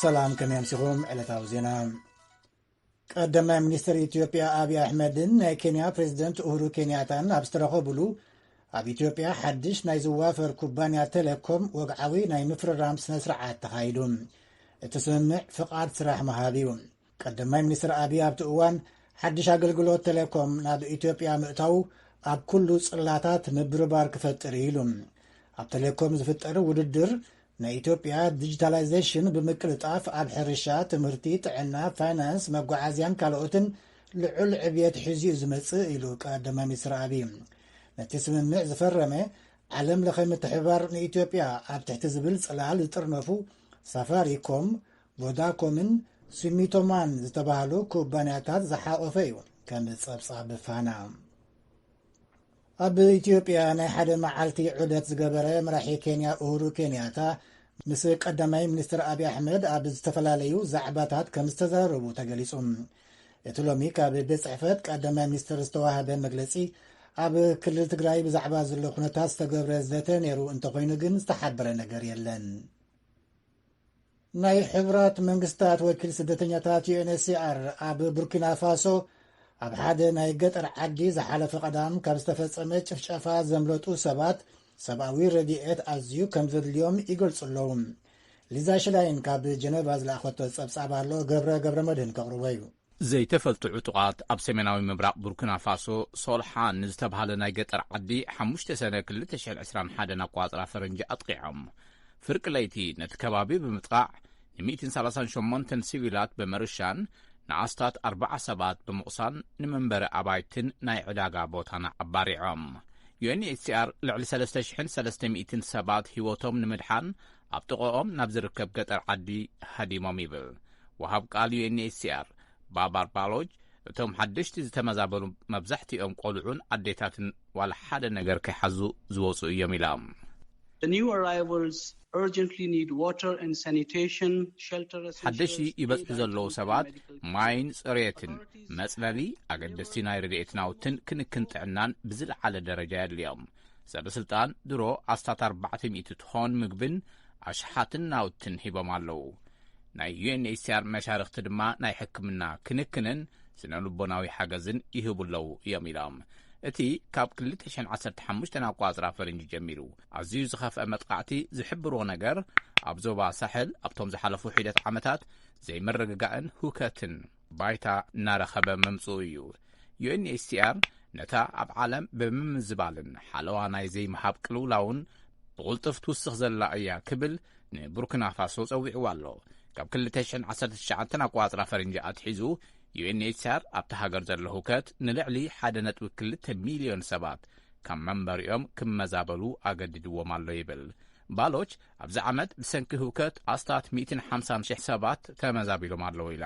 ሰላም ከመይ ኣምሲኹም ዕለታዊ ዜና ቀዳማይ ሚኒስትር ኢትዮጵያ ኣብዪ ኣሕመድን ናይ ኬንያ ፕሬዚደንት እሁሩ ኬንያታን ኣብ ዝተረኸብሉ ኣብ ኢትዮጵያ ሓድሽ ናይ ዝዋፈር ኩባንያ ቴሌኮም ወግዓዊ ናይ ምፍርራም ስነ ስርዓት ተኻይዱ እቲ ስምምዕ ፍቓድ ስራሕ ምሃብ እዩ ቀዳማይ ሚኒስትር ኣብዪ ኣብቲ እዋን ሓድሽ ኣገልግሎት ቴሌኮም ናብ ኢትዮጵያ ምእታዉ ኣብ ኩሉ ጽላታት ምብርባር ክፈጥር እዩ ኢሉ። ኣብ ቴሌኮም ዝፍጠር ውድድር ናይ ኢትዮጵያ ዲጂታላይዜሽን ብምቅልጣፍ ኣብ ሕርሻ፣ ትምህርቲ፣ ጥዕና፣ ፋይናንስ፣ መጓዓዝያን ካልኦትን ልዑል ዕብየት ሒዙ እዩ ዝመጽእ ኢሉ ቀዳማይ ሚኒስትር ኣብዪ። ነቲ ስምምዕ ዝፈረመ ዓለም ለኸ ምትሕብባር ንኢትዮጵያ ኣብ ትሕቲ ዝብል ጽላል ዝጥርነፉ ሳፋሪኮም፣ ቮዳኮምን ሱሚቶማን ዝተባህሉ ኩባንያታት ዝሓቖፈ እዩ። ከም ጸብጻብ ፋና ኣብ ኢትዮጵያ ናይ ሓደ መዓልቲ ዑደት ዝገበረ መራሒ ኬንያ ኡሁሩ ኬንያታ ምስ ቀዳማይ ሚኒስትር ኣብዪ ኣሕመድ ኣብ ዝተፈላለዩ ዛዕባታት ከም ዝተዘራረቡ ተገሊጹ። እቲ ሎሚ ካብ ቤት ጽሕፈት ቀዳማይ ሚኒስትር ዝተዋህበ መግለጺ ኣብ ክልል ትግራይ ብዛዕባ ዘሎ ኩነታት ዝተገብረ ዘተ ነይሩ እንተኾይኑ ግን ዝተሓበረ ነገር የለን። ናይ ሕቡራት መንግስታት ወኪል ስደተኛታት UNHCR ኣብ ቡርኪናፋሶ ኣብ ሓደ ናይ ገጠር ዓዲ ዝሓለፈ ቀዳም ካብ ዝተፈጸመ ጭፍጨፋ ዘምለጡ ሰባት ሰብኣዊ ረድኤት ኣዝዩ ከም ዘድልዮም ይገልጹ ኣለዉ። ሊዛ ሽላይን ካብ ጀነቫ ዝለኣኸቶ ጸብጻብ ኣሎ ገብረ ገብረ መድህን ከቕርቦ እዩ። ዘይተፈልጡ ዕጡቓት ኣብ ሰሜናዊ ምብራቕ ቡርኪናፋሶ ሶልሓን ንዝተብሃለ ናይ ገጠር ዓዲ ሓሙሽተ ሰነ ክልተ ሽሕን ዕስራን ሓደን ኣቆጻጽራ ፈረንጂ ኣጥቒዖም ፍርቂ ለይቲ ነቲ ከባቢ ብምጥቓዕ ንሚእትን ሰላሳን ሸሞንተን ሲቪላት ብምርሻን ንኣስታት ኣርባዓ ሰባት ብምቑሳል ንመንበሪ ኣባይትን ናይ ዕዳጋ ቦታን ኣባሪዖም። ዩኤንኤችሲኣር ልዕሊ ሰለስተ ሽሕን ሰለስተ ሚእትን ሰባት ህይወቶም ንምድሓን ኣብ ጥቐኦም ናብ ዝርከብ ገጠር ዓዲ ሃዲሞም ይብል ወሃብ ቃል ዩኤንኤችሲኣር ባባር ባሎጅ። እቶም ሓደሽቲ ዝተመዛበሉ መብዛሕትኦም ቆልዑን ኣዴታትን ዋላ ሓደ ነገር ከይሓዙ ዝወጹ እዮም ኢላ። ሓደሽቲ ይበጽሑ ዘለዉ ሰባት ማይን ጽሬትን፣ መጽለሊ፣ ኣገደስቲ ናይ ረድኤት ናውትን ክንክን ጥዕናን ብዝለዓለ ደረጃ የድልዮም። ሰበስልጣን ድሮ ኣስታት ኣርባዕተ ሚእቲ ትኾን ምግብን ኣሽሓትን ናውትን ሂቦም ኣለዉ። ናይ ዩኤንኤችሲኣር መሻርኽቲ ድማ ናይ ሕክምና ክንክንን ስነ ልቦናዊ ሓገዝን ይህቡ ኣለዉ እዮም ኢሎም። እቲ ካብ 2015 ኣቋፅራ ፈረንጂ ጀሚሩ ኣዝዩ ዝኸፍአ መጥቓዕቲ ዝሕብርዎ ነገር ኣብ ዞባ ሳሕል ኣብቶም ዝሓለፉ ሒደት ዓመታት ዘይምርግጋእን ሁከትን ባይታ እናረኸበ ምምጽኡ እዩ። ዩኤንኤችሲኣር ነታ ኣብ ዓለም ብምምዝባልን ሓለዋ ናይ ዘይምሃብ ቅልውላውን ብቕልጡፍ ትውስኽ ዘላ እያ ክብል ንቡርኪናፋሶ ጸዊዕዋ ኣሎ። ካብ 2019 ኣቆጻጽራ ፈረንጂ ኣትሒዙ ዩኤንኤችሲኣር ኣብታ ሃገር ዘሎ ህውከት ንልዕሊ 1.2 ሚልዮን ሰባት ካብ መንበሪኦም ክመዛበሉ ኣገዲድዎም ኣሎ ይብል። ባሎች ኣብዚ ዓመት ብሰንኪ ህውከት ኣስታት ሚእትን ሓምሳን ሽሕ ሰባት ተመዛቢሎም ኣለዉ ኢላ።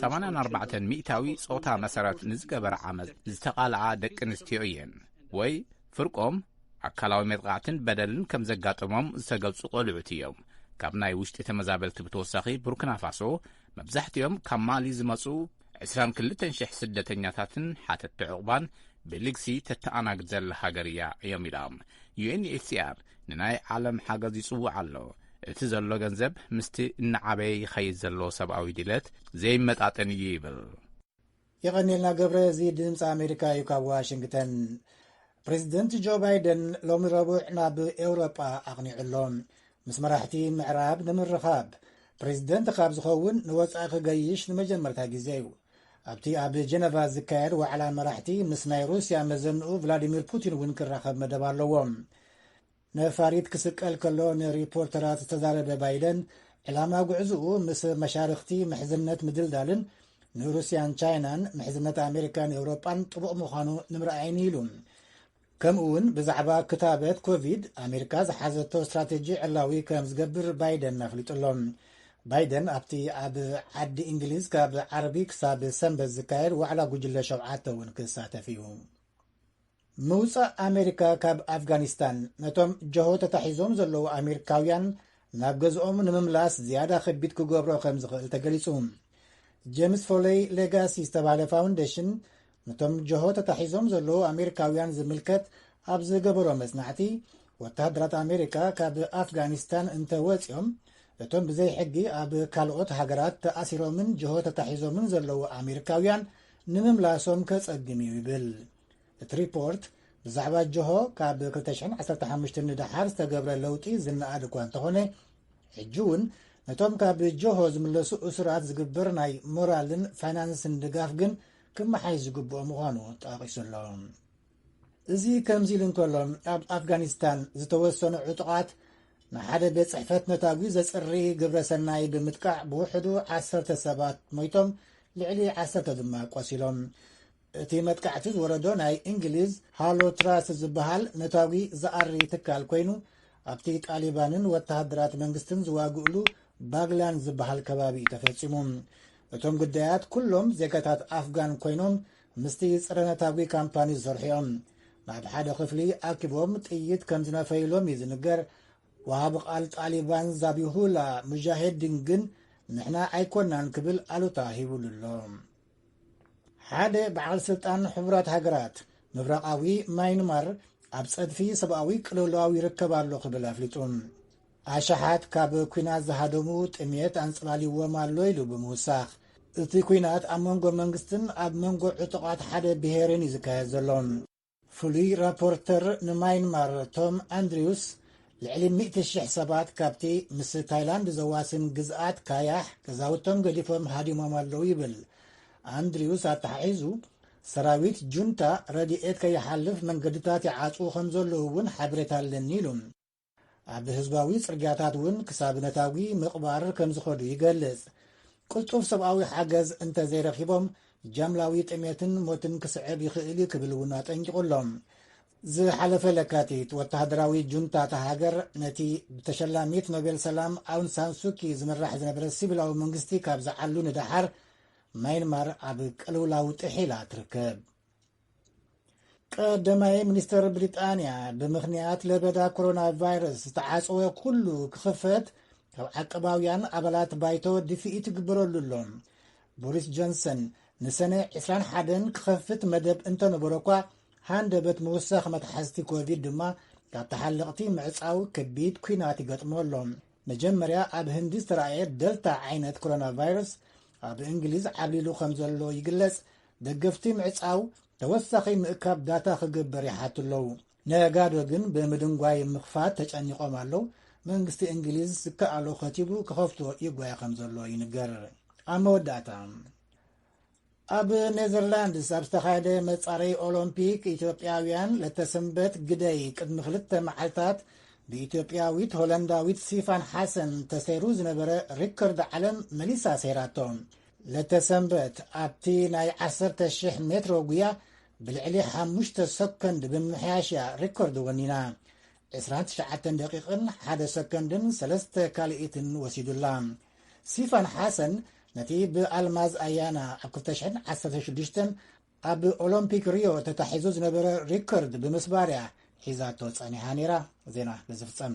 84% ሚእታዊ ጾታ መሰረት ንዝገበረ ዓመጽ ዝተቓልዓ ደቂ ኣንስትዮ እየን ወይ ፍርቆም ኣካላዊ መጥቓዕትን በደልን ከም ዘጋጠሞም ዝተገልጹ ቈልዑት እዮም። ካብ ናይ ውሽጢ ተመዛበልቲ ብተወሳኺ ቡርኪናፋሶ መብዛሕትኦም ካብ ማሊ ዝመጹ ዕስራን ክልተን ሽሕ ስደተኛታትን ሓተቲ ዕቝባን ብልግሲ ተተኣናግድ ዘላ ሃገር እያ እዮም ኢሎም። UNHCR ንናይ ዓለም ሓገዝ ይጽውዕ ኣሎ፣ እቲ ዘሎ ገንዘብ ምስቲ እናዓበየ ይኸይድ ዘሎ ሰብኣዊ ድሌት ዘይመጣጠን እዩ ይብል። የቐኔልና ገብረ እዚ ድምፂ ኣሜሪካ እዩ ካብ ዋሽንግተን ፕሬዚደንት ጆ ባይደን ሎሚ ረቡዕ ናብ ኤውሮጳ ኣቕኒዑ ኣሎ ምስ መራሕቲ ምዕራብ ንምርኻብ ፕሬዚደንት ካብ ዝኸውን ንወፃኢ ክገይሽ ንመጀመርታ ግዜ እዩ ኣብቲ ኣብ ጀነቫ ዝካየድ ዋዕላ መራሕቲ ምስ ናይ ሩስያ መዘንኡ ቭላዲሚር ፑቲን እውን ክራኸብ መደብ ኣለዎ ነፋሪት ክስቀል ከሎ ንሪፖርተራት ዝተዛረበ ባይደን፣ ዕላማ ጉዕዝኡ ምስ መሻርኽቲ ምሕዝነት ምድልዳልን ንሩስያን ቻይናን ምሕዝነት ኣሜሪካን ኤውሮጳን ጥቡቕ ምዃኑ ንምርኣይን ኢሉ። ከምኡ እውን ብዛዕባ ክታበት ኮቪድ ኣሜሪካ ዝሓዘቶ ስትራቴጂ ዕላዊ ከም ዝገብር ባይደን ኣፍሊጡ ኣሎ። ባይደን ኣብቲ ኣብ ዓዲ እንግሊዝ ካብ ዓርቢ ክሳብ ሰንበት ዝካየድ ዋዕላ ጉጅለ ሸውዓተ እውን ክሳተፍ እዩ። ምውጻእ ኣሜሪካ ካብ ኣፍጋኒስታን ነቶም ጀሆ ተታሒዞም ዘለዉ ኣሜሪካውያን ናብ ገዝኦም ንምምላስ ዝያዳ ከቢድ ክገብሮ ከም ዝኽእል ተገሊጹ ጀምስ ፎለይ ሌጋሲ ዝተባህለ ፋውንዴሽን ነቶም ጀሆ ተታሒዞም ዘለዉ ኣሜሪካውያን ዝምልከት ኣብ ዝገበሮ መጽናዕቲ ወተሃደራት ኣሜሪካ ካብ ኣፍጋኒስታን እንተ ወፂኦም እቶም ብዘይ ሕጊ ኣብ ካልኦት ሃገራት ተኣሲሮምን ጀሆ ተታሒዞምን ዘለዉ ኣሜሪካውያን ንምምላሶም ከጸግም እዩ ይብል እቲ ሪፖርት ብዛዕባ ጀሆ ካብ 215 ንደሓር ዝተገብረ ለውጢ ዝነኣድ እኳ እንተኾነ ሕጂ እውን ነቶም ካብ ጀሆ ዝምለሱ እሱራት ዝግበር ናይ ሞራልን ፋይናንስን ድጋፍ ግን ክመሓይ ዝግብኦ ምዃኑ ጠቂሱ ኣሎ እዚ ከምዚ ኢሉ እንከሎ ኣብ ኣፍጋኒስታን ዝተወሰኑ ዕጡቓት ንሓደ ቤት ጽሕፈት ነታጒ ዘጽሪ ግብረ ሰናይ ብምጥቃዕ ብውሕዱ ዓሰርተ ሰባት ሞይቶም ልዕሊ ዓሰርተ ድማ ቆሲሎም እቲ መጥቃዕቲ ዝወረዶ ናይ እንግሊዝ ሃሎ ትራስት ዝበሃል ነታጒ ዝኣሪ ትካል ኮይኑ ኣብቲ ጣሊባንን ወተሃደራት መንግስትን ዝዋግእሉ ባግላን ዝበሃል ከባቢ እዩ ተፈጺሙ። እቶም ግዳያት ኩሎም ዜጋታት ኣፍጋን ኮይኖም ምስቲ ጸረ ነታጒ ካምፓኒ ዝሰርሑ እዮም። ናብ ሓደ ክፍሊ ኣኪቦም ጥይት ከም ዝነፈይሎም እዩ ዝንገር። ወሃቢ ቃል ጣሊባን ዛቢሁላ ሙጃሄዲን ግን ንሕና ኣይኮናን ክብል ኣሉታ ሂብሉ ኣሎ። ሓደ በዓል ስልጣን ሕቡራት ሃገራት ምብራቓዊ ማይንማር ኣብ ጸድፊ ሰብኣዊ ቅልውላው ይርከብ ኣሎ ክብል ኣፍሊጡ ኣሸሓት ካብ ኩናት ዝሃደሙ ጥሜት ኣንጸላልዎም ኣሎ ኢሉ ብምውሳኽ እቲ ኩናት ኣብ መንጎ መንግስትን ኣብ መንጎ ዕጡቓት ሓደ ብሄርን እዩ ዝካየድ ዘሎ ፍሉይ ራፖርተር ንማይንማር ቶም ኣንድሪውስ ልዕሊ ሚእቲ ሽሕ ሰባት ካብቲ ምስ ታይላንድ ዘዋስን ግዝኣት ካያሕ ገዛውቶም ገዲፎም ሃዲሞም ኣለዉ ይብል። ኣንድሪውስ ኣተሓሒዙ ሰራዊት ጁንታ ረድኤት ከይሓልፍ መንገድታት ይዓጽዉ ከም ዘለዉ እውን ሓበሬታ ኣለኒ ኢሉ። ኣብ ህዝባዊ ጽርግያታት እውን ክሳብ ነታጒ ምቕባር ከም ዝኸዱ ይገልጽ። ቅልጡፍ ሰብኣዊ ሓገዝ እንተ ዘይረኺቦም ጃምላዊ ጥሜትን ሞትን ክስዕብ ይኽእል እዩ ክብል እውን ኣጠንቂቑ ኣሎ። ዝሓለፈ ለካቲት ወተሃደራዊ ጁንታ እታ ሃገር ነቲ ብተሸላሚት ኖቤል ሰላም ኣውን ሳንሱኪ ዝምራሕ ዝነበረ ሲቪላዊ መንግስቲ ካብ ዝዓሉ ንደሓር ማይንማር ኣብ ቅልውላው ጥሒላ ትርከብ ቀደማይ ሚኒስተር ብሪጣንያ ብምኽንያት ለበዳ ኮሮና ቫይረስ ዝተዓፀወ ኩሉ ክኽፈት ካብ ዓቀባውያን ኣባላት ባይቶ ድፍኢት ትግበረሉ ኣሎ ቦሪስ ጆንሰን ንሰነ 21 ክኸፍት መደብ እንተነበሮ እኳ ሃንደበት ምውሳኽ መትሓዝቲ ኮቪድ ድማ ካብ ተሓለቕቲ ምዕፃው ከቢድ ኩናት ይገጥሞ ኣሎ መጀመርያ ኣብ ህንዲ ዝተረኣየ ደልታ ዓይነት ኮሮና ቫይረስ ኣብ እንግሊዝ ዓብሊሉ ከም ዘሎ ይግለጽ ደገፍቲ ምዕጻው ተወሳኺ ምእካብ ዳታ ክግበር ይሓቱ ኣለዉ። ነጋዶ ግን ብምድንጓይ ምኽፋት ተጨኒቖም ኣለዉ። መንግስቲ እንግሊዝ ዝከኣሎ ከቲቡ ክኸፍቶ ይጓየ ከም ዘሎ ይንገር። ኣብ መወዳእታ ኣብ ኔዘርላንድስ ኣብ ዝተኻየደ መጻረይ ኦሎምፒክ ኢትዮጵያውያን ለተሰንበት ግደይ ቅድሚ ክልተ መዓልታት ብኢትዮጵያዊት ሆለንዳዊት ሲፋን ሓሰን ተሰይሩ ዝነበረ ሪከርድ ዓለም መሊሳ ሰይራቶ ለተሰንበት ኣብቲ ናይ ዓሰርተ ሽሕ ሜትሮ ጉያ ብልዕሊ ሓሙሽተ ሰኮንድ ብምምሕያሽ እያ ሪኮርድ ወኒና። ዕስራን ትሽዓተን ደቂቕን ሓደ ሰኮንድን ሰለስተ ካልኢትን ወሲዱላ። ሲፋን ሓሰን ነቲ ብኣልማዝ ኣያና ኣብ ክልተ ሽሕን ዓሰርተ ሽዱሽተን ኣብ ኦሎምፒክ ሪዮ ተታሒዙ ዝነበረ ሪከርድ ብምስባር እያ ሒዛቶ ጸኒሓ ነይራ ዜና ብዝፍጸም